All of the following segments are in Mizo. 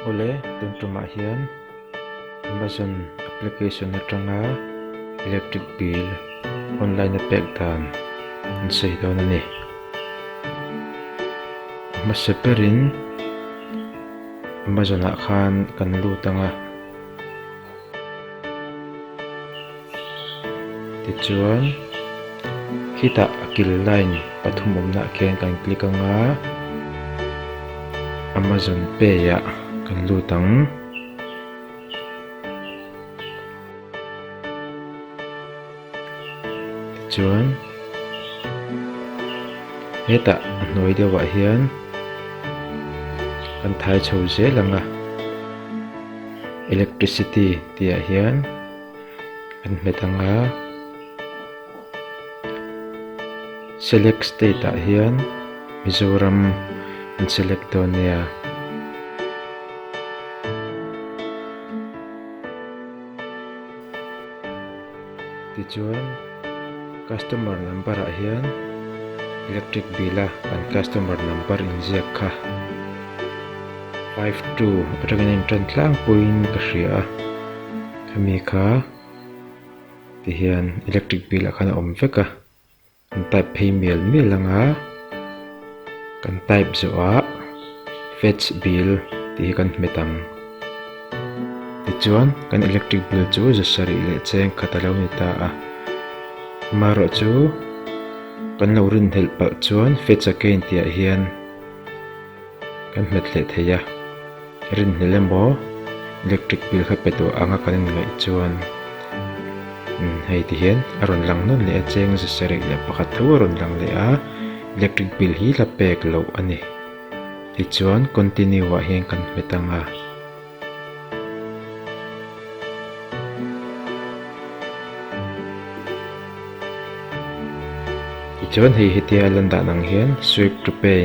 Awle, tumtumah hian Amazon application atanga electric bill online a pek dan an sawi dawn a ni. Hmasa berin Amazon-ah khan kan lut ang a. Tichuan khitah kil line pathum awmnah khian kan click anga Amazon pay ah kan lut ang. Chuan hetah a hnuai deuhah hian kan thai chho zel ang a, electricity tih ah hian kan hmet ang a, select state ah hian Mizoram an select dawn nia. Tichuan, customer number ah hian electric bill a kan customer number inziak kha five two atangin a inṭan tlangpuiin ka hria a, khami kha tihian electric bill ah khan a awm vek a. Kan type phei mial mial ang a, kan type zawh a fetch bill tih hi kan hmet ang. Tichuan kan electric bill chu za sarih leh cheng khat a lo ni ta a. Amaherawh chu kan lo rinhlelh palh chuan fetch again tih ah hian. Kan hmet hleh thei a, rin hnel emaw electric bill kha pe tawh anga kan inngaih chuan hei ti hian a rawn lang nawn leh a, cheng zasarih leh pakhat tho a rawn lang leh a, electric bill hi hla pek loh a ni. Tichuan continue ah hian kan hmet ang a. Tichuan hei hetia a lan dan ang hian swipe to pay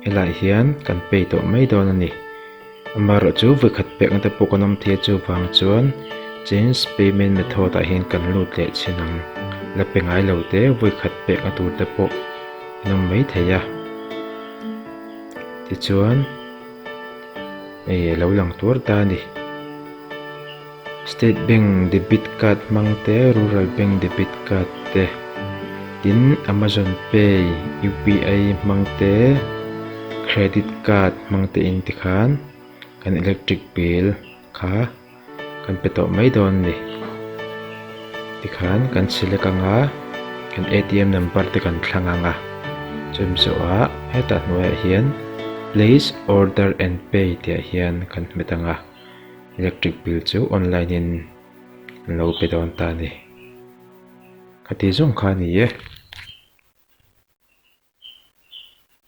helai hian kan pay tawh mai dawn a ni amaherawh chu vawikhat pekna te pawh kan awm thei a chuvang chuan change payment method ah hian kan lut leh chhin ang la pe ngailo te vawikhat pekna tur te pawh an awm mai thei a tichuan-- Hei a lo lang tuar ta a ni. State Bank debit card hmang te, Rural Bank debit card te, tin Amazon Pay UPI hmang te, Credit card hmang te in tikhan kan electric bill kha. Kan pe tawh mai dawn ni tikhan kan select anga kan atm number te kan thlang anga chumi zawha hetah hnuaiah hian place order and pay tihah hian kan hmet anga electric bill chu online in an lo pe dawn ta ni khati zawng kha ni e.